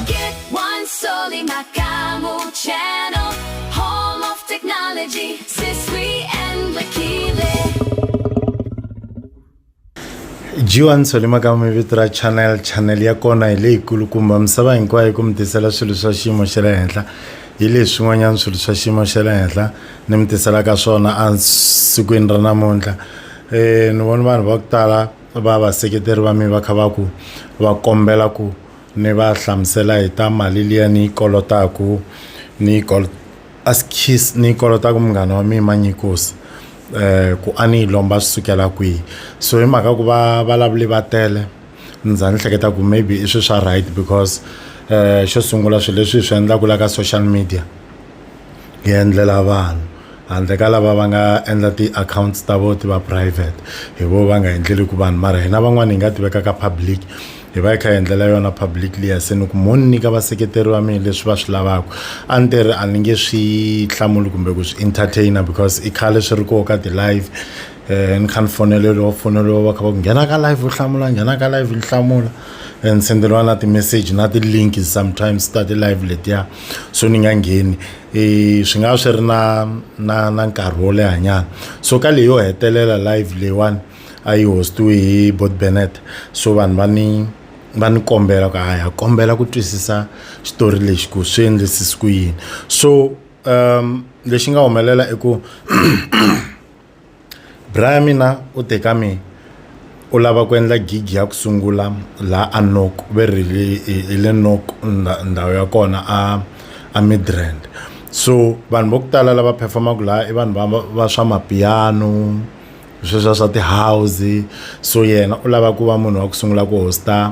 Get one soli makamu channel, home of technology, Siswi and Lakile. G1 Solima ka mi vito ra channel channel ya kona hi leyikulukumba misava hinkwayo ku mi tisela swilo swa xiyimo xa le henhla hi leswi swin'wanyana swilo swa xiyimo xa le henhla ni mi tiselaka swona esikwini ra namuntlha um ni vona vanhu va ku tala va vaseketeri va mi va kha va ku va kombela ku ni va hlamusela hi ta mali liya ni yi kolotaku ni yi kol askies ni yi kolotaku munghana wa mina manyikosi eh ku a ni yi lomba swi sukela kwihi so hi mhaka ku va valavuli va tele ni za ni hleketa ku maybe i swi swa right because eh xo sungula swilo leswi hi swi endlaku la ka social media hi endlela vanhu handle ka lava va nga endla ti-accounts ta vo ti va private hi vo va nga endleli ku vanhu mara hina van'wani hi nga ti veka ka public hi va hi kha hi endlela yona public liya se ni ku mo ni nyika vaseketeri va mina leswi va swi lavaka a ni te ri a ni nge swi hlamuli kumbe ku swi entertainer because i khale swi ri koho ka ti-live. um ni kha ni foneleriwa ku foneriwa va kha va ku nghena ka live u hlamula nghena ka live ni hlamula and ni senderiwa na ti-message na ti-link sometimes ta ti-live letiya so ni nga ngheni um swi nga va swi ri na na na nkarhi wo lehanyana so ka leyi yo hetelela live leyiwani a yi hostiwe hi bot benet so vanhu va ni va ni kombela ku haya kombela ku twisisa xitori lexi ku swi endlisisi ku yini so um lexi nga humelela i ku Bra ya mina u te ka mina, U lava ku endla gig ya ku sungula laha a Nook, ve ri hi le Nook ndhawu ya kona a a Midrand. So vanhu va ku tala lava perform-aka laha i vanhu va va va swa mapiano, sweswiya swa ti-house. So yena u lava ku va munhu wa ku sungula ku host-a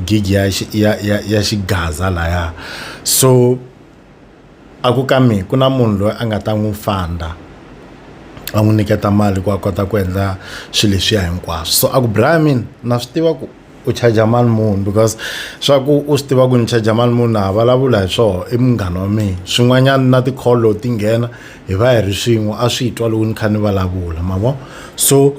gig ya ya ya ya xigaza lahaya. So. A ku ka mina ku na munhu loyi a nga ta n'wi fund-a a n'wi nyiketa mali ku a kota ku endla swilo leswiya hinkwaswo so a ku Brian na swi tiva ku u charger mali muni because swa ku u swi tiva ku ni charger mali muni na ha vulavula hi swona i munghana wa mina swin'wanyana na ti-call loko ti nghena hi va hi ri swin'we a swi twa loko ni kha ni vulavula ma vo so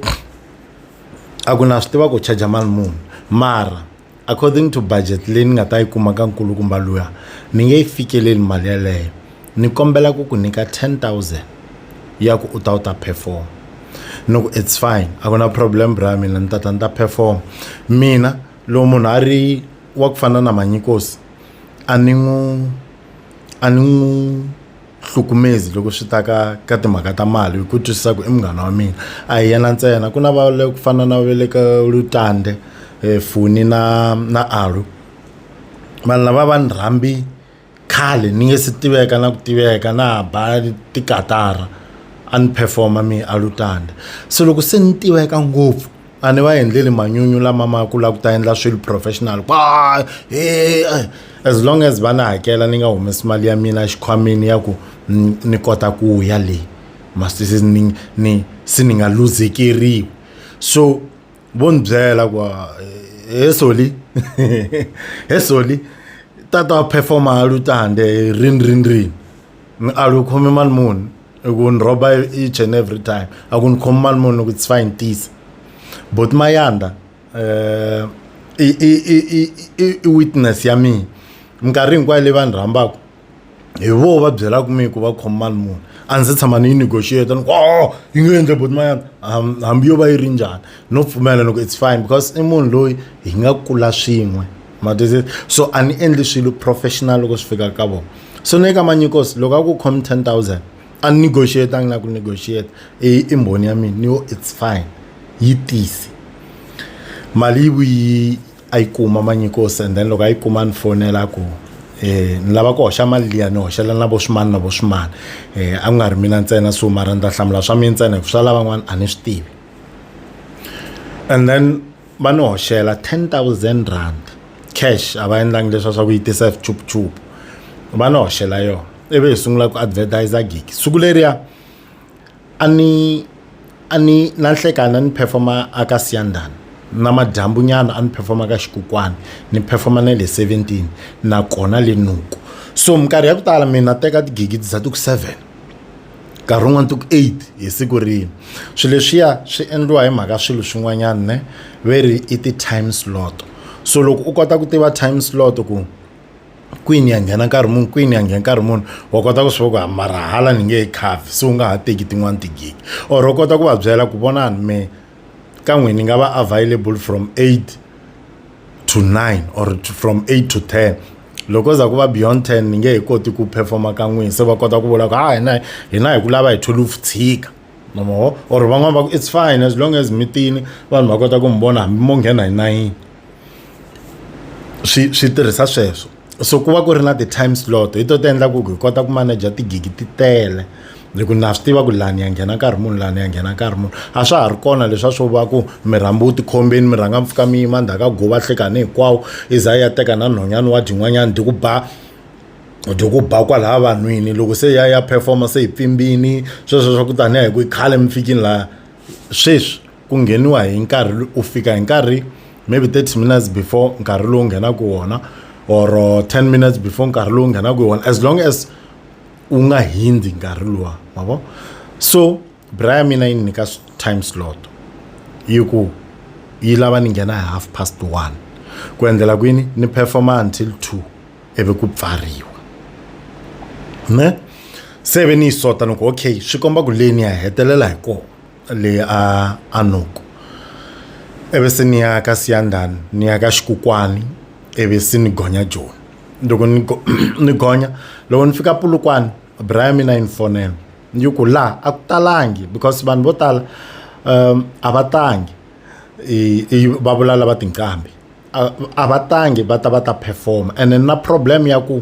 a ku na swi tiva ku charger mali muni mara. according to budget leyi ni nga ta yi kuma ka nkulukumba luya ni nge yi fikeleli mali yeleyo ni kombela ku ku nyika 10000 ya ku u ta u ta perform ni ku it's fine a ku na problem bra mina ni ta ta ni ta perform mina loko munhu a ri wa ku fana na manyikosi a ni n'wi a ni n'wi hlukumezi loko swi ta ka ka timhaka ta mali hi ku twisisa ku i munghana wa mina a hi yena ntsena ku na va le ku fana na va le ka lutande eh, funi na na alu vanhu lava va ni rhambi khale ni nge se tiveka na ku tiveka na ha ba tikatara a ni performa mi alutande se loko se ni tiveka ngopfu a ni va endleli manyunyu lama ma ku lava ku ta endla swilo professional kwa he as long as va ni hakela ni nga humesi mali ya mina exikhwameni ya ku ni kota ku ya le ma se ni ni se ni nga luzekeriwi so vo ni byela ku he soli he soli tata perform-a a lu ta hande rini rini rini a lu khome mali muni. i ku ni rhoba each and every time a ku ni khomi mali munhu ku tsfa ni tisa but mayanda um i witness ya mina minkarhi hinkwayo leyi va ni rhambaka hi vo va byelaka mi ku va khoma mali muni a ndzi tshama ni yi negotiate ni ku o yi nge endle boti mayana hambi yo va yi ri njhani no pfumela ni ku it's fine because i munhu loyi hi nga kula swin'we matize so a ni endli swilo professional loko swi fika ka vona so ni eka manyikos loko a ku khomi ten thousand a ni negotiate a ngi na ku negotiate i i mbhoni ya mina ni yo it's fine yi tisi mali yi vuyi a yi kuma manyikos and then loko a yi kuma ni fonela ku eh ni lava ku hoxa mali liya ni hoxela na vo swimani na vo swimani eh a ku nga ri mina ntsena so mara ni ta hlamula swa mina ntsena hi ku swa lavan'wana a ni swi tivi and then va ni hoxela 10000 rand cash a va endlangi leswa swa ku yi tisa swichupuchupu va ni hoxela yona ivi hi sungula ku advertisa gigi siku leriya a ni a ni na nhlekani a ni performa aka siyandani na madyambunyana a ni performa ka xikukwana ni performa na le 17 nakona le nuku so minkarhi ya ku tala mina teka tigigi ti za ti ku 7 nkarhi wun'wani ti ku eight hi siku rin'we swi leswiya swi endliwa hi mhaka swilo swin'wanyani ne ve ri i ti-time slot so loko u kota ku tiva time slot ku kwini ya nghena nkarhi muni kwini ya nkarhi muni wa kota ku swi va ku ha mara hala ni nge he cover se u nga ha teki tin'wani ti-gig or u kota ku va byela ku vonani me ka n'wina ni nga va available from eight to nine or from eight to ten loko ko za ku va beyond ten ni nge he koti ku performa ka n'wina se va kota ku vula ku ha hina hina hi ku lava hi thwelufu tshika mamoho or van'wani va ku it's fine as long as mi tini vanhu va kota ku mi vona hambi mo nghena hi nayini swi swi tirhisa sweswo so ku va ku ri na ti-time slot hi to ti endla ku hi kota ku manager tigigi ti tele hi ku na swi tiva ku lani ya nghena nkarhi munhu lani ya nghena nkarhi munhu a swa ha ri kona leswa swo va ku mi rhambi u tikhombeni mi rhanga mpfuka mi yima ndzhaku ka go va hlekani hinkwawo i za ya teka na nhonyana wa dyin'wanyana dyi ku ba dyi ku ba kwalaha vanhwini loko se ya ya performa se hi pfimbini sweswo swa ku tanihi ku i khale mi fikini laha sweswi ku ngheniwa hi nkarhi u fika hi nkarhi maybe 30 minutes before nkarhi lowu nghenaka wona or 10 minutes before nkarhi lowu nghenaka wona as long as u nga hindi nkarhi luwa ma vo so bra ya mina yi ni nyika time slot yi ku yi lava ni nghena hi half past one ku endlela kwini ni performa until two ivi ku pfariwa ne se ve ni yi sota ni ku okay swi komba ku leni ya hetelela hi kona le a Anoko, ivi se ni ya ka Siyandhani ni ya ka Xikukwani ivi se ni gonya Joni loko ni go ni gonya loko ni fika Polokwane bra ya mina yi ni fonela ni yi ku laha a ku talangi because vanhu vo tala a va tangi i va vula lava tinqambi a va tangi va ta va ta perform-a ene na problem ya ku.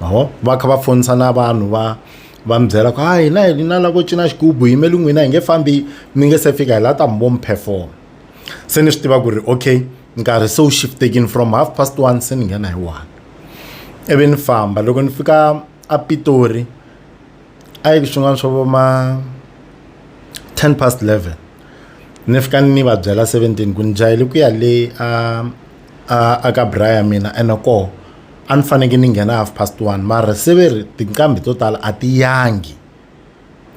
ma vo va kha va fonisa na vanhu va va mi byela ku ha hina hi na lavo cina xigubu yimeli n'wina hi nge fambi mi nge se fika hi la ta mi vo mi perform se ni swi tiva ku ri okay nkarhi se wu shiftekini from half past one se ni nghena hi one ivi ni famba loko ni fika a pitori a yi swin'wana swo vo ma ten past eleven ni fika ni va byela seventeen ku ni jahele ku ya le a a a ka bra ya mina ene koho a ni faneke ni nghena half past one mara se ve ri tinqambi to tala a ti yangi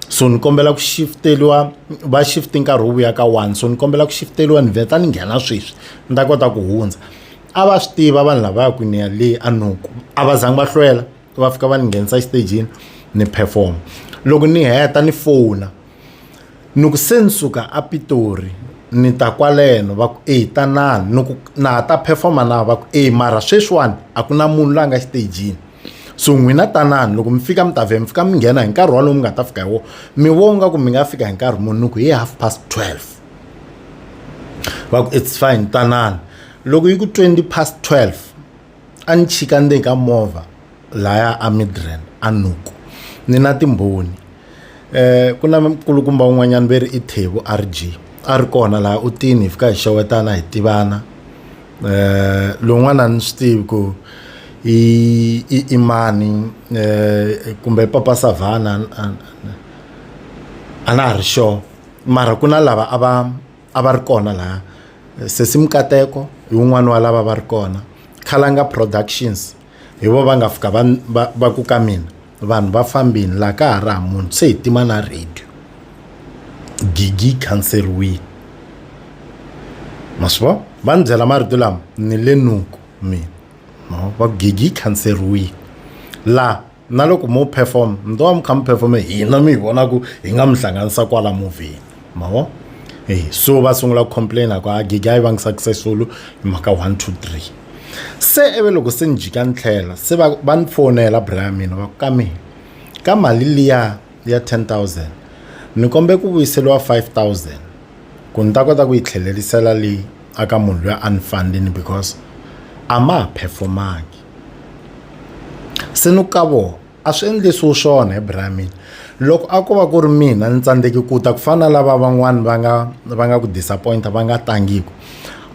so ni kombela ku shifteriwa va shift nkarhi wu vuya ka one so ni kombela ku shifteriwa ni vheta ni nghena sweswi ni ta kota ku hundza a va swi tiva vanhu lavaya ku ni ya le a nuku a va zangi va hlwela va fika va ni nghenisa exitejini ni perform loko ni heta ni fona ni ku se ni suka a Pitori ni ta kwaleno va ku eyi tanani ni ku na ha ta perform-a na va ku eyi mara sweswiwani a ku na munhu la nga xitejini so n'wina tanani loko mi fika mi ta vhe mi fika mi nghena hi nkarhi wolowo mi nga ta fika hi wona mi vo nga ku mi nga fika hi nkarhi muni ni ku hi half past twelve va ku it's fine tanani loko yi ku twenty past twelve a ni chika ndzeni ka movha laya a Midrand a Noko ni na timbhoni ku na nkulukumba un'wanyana ve ri i Thebo RG a ri kona laha u tini hi fika hi xewetana hi tivana lowun'wana a ni swi tivi ku i i i mani kumbe papa Savhana a na ha ri sure mara ku na lava a va. a va ri kona laha sesi mikateko hi wun'wani wa lava va ri kona khalanga productions hi vo va nga fika va va, va ku ka mina vanhu va fambini laha ka ha ri ha munhu se hi tima na radio gigi yi khanseriwile ma swi vo va ni byela marito lama ni le nuku mina va gigi yi khanseriwile laha na loko mo perform mi to va mi kha mi performe hina mi hi vona ku hi nga mi hlanganisa kwala movheni ma vo e so va sungula ku complaina ku a gigi a yi vangi successful hi mhaka one two three se ivi loko se ni jika ni tlhela se va va ni fonela bra ya mina va ku ka mina ka mali liya ya ten thousand ni kombe ku vuyiseliwa five thousand ku ni ta kota ku yi tlhelerisela leyi aka munhu loyi a ni fandini because a ma ha performangi se ni ka vona a swi endlisiwi swona hi bra mina loko a ko va ku ri mina ni tsandzeki ku ta ku fana na lava van'wani va nga va nga ku disappoint-a va nga tangiki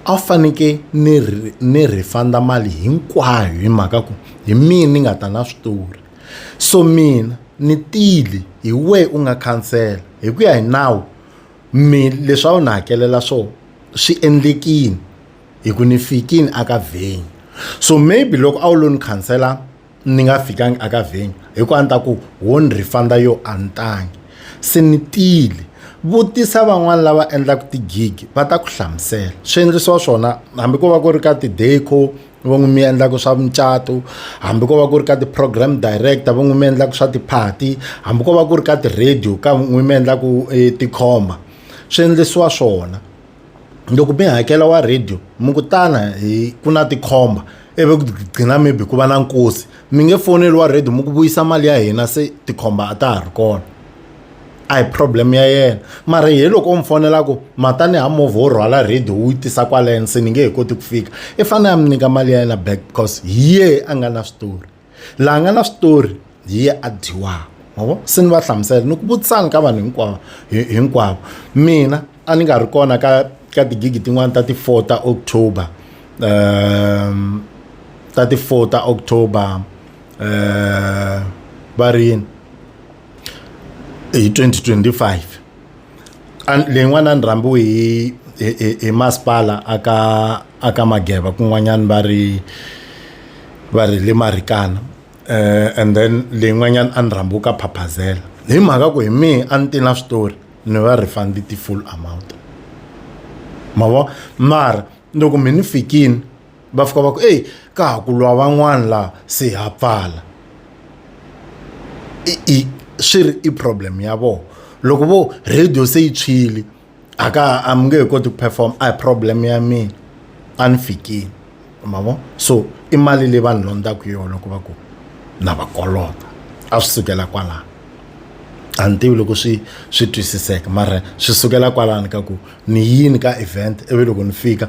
a faneke ni ni refund mali hinkwayo hi mhaka ku hi mina ni nga ta na switori so mina ni tile hi wehe u nga khansela hi ku ya hi nawu mi leswi a wu ni hakelela swona swi endlekile. hi ku ni fikini a ka venue so maybe loko a wu lo ni khansela ni nga fikangi a ka venue hi ku a ni ta ku wo ni refund-a yo a ni tangi se ni tile vutisa van'wani lava endlaka ti-gig va ta ku hlamusela swi endlisiwa swona hambi ko va ku ri ka ti-deco va n'wi mi endlaka swa mucato hambi ko va ku ri ka ti-program director va n'wi mi endlaka swa ti-party hambi ko va ku ri ka ti-radio ka n'wi mi endlaka tikhomba swi endlisiwa swona. loko mi hakela wa radio mi ku tana hi ku na tikhomba ivi ku gcina maybe ku va na nkosi mi nge foneli wa radio mi ku vuyisa mali ya hina se tikhomba a ta ha ri kona a hi problem ya yena mara hi loko u mi fonela ku matani ha movha wo rhwala radio wu yi tisa kwaleno se ni nge he koti ku fika i fanele a mi nyika mali ya yena back because hi yehe a nga na switori. laha nga na switori hi ye a dyiwaka mavo se ni va hlamusela ni ku vutisana ka vanhu hinkwavo hinkwavo mina a ni nga ri kona ka ka tigigi tin'wani ta ti-four ta october um ta ti-four ta october um va ri yini hi 2025 A leyin'wana a ni rhambiwe hi hi hi hi masipala a ka a ka Mageba kun'wanyana va ri va ri hi le Marikana and then leyin'wanyana a ni rhambiwe ka Phaphazela hi mhaka ku hi mehe a ni te na switori ni va refund ti-full amount ma vo mara loko me ni fikini. va fika va ku eyi ka ha ku lwa van'wana laha se ha pfala i i swi ri i problem ya vona loko vo radio se yi tshwile a ka a mi nge he koti ku perform a hi problem ya mina a ni fikile ma vo so i mali leyi vanhu londzaka yona ku va ku na va kolota a swi sukela kwalano a ni tivi loko swi swi twisiseka mara swi sukela kwalano ka ku ni yini ka event ivi loko ni fika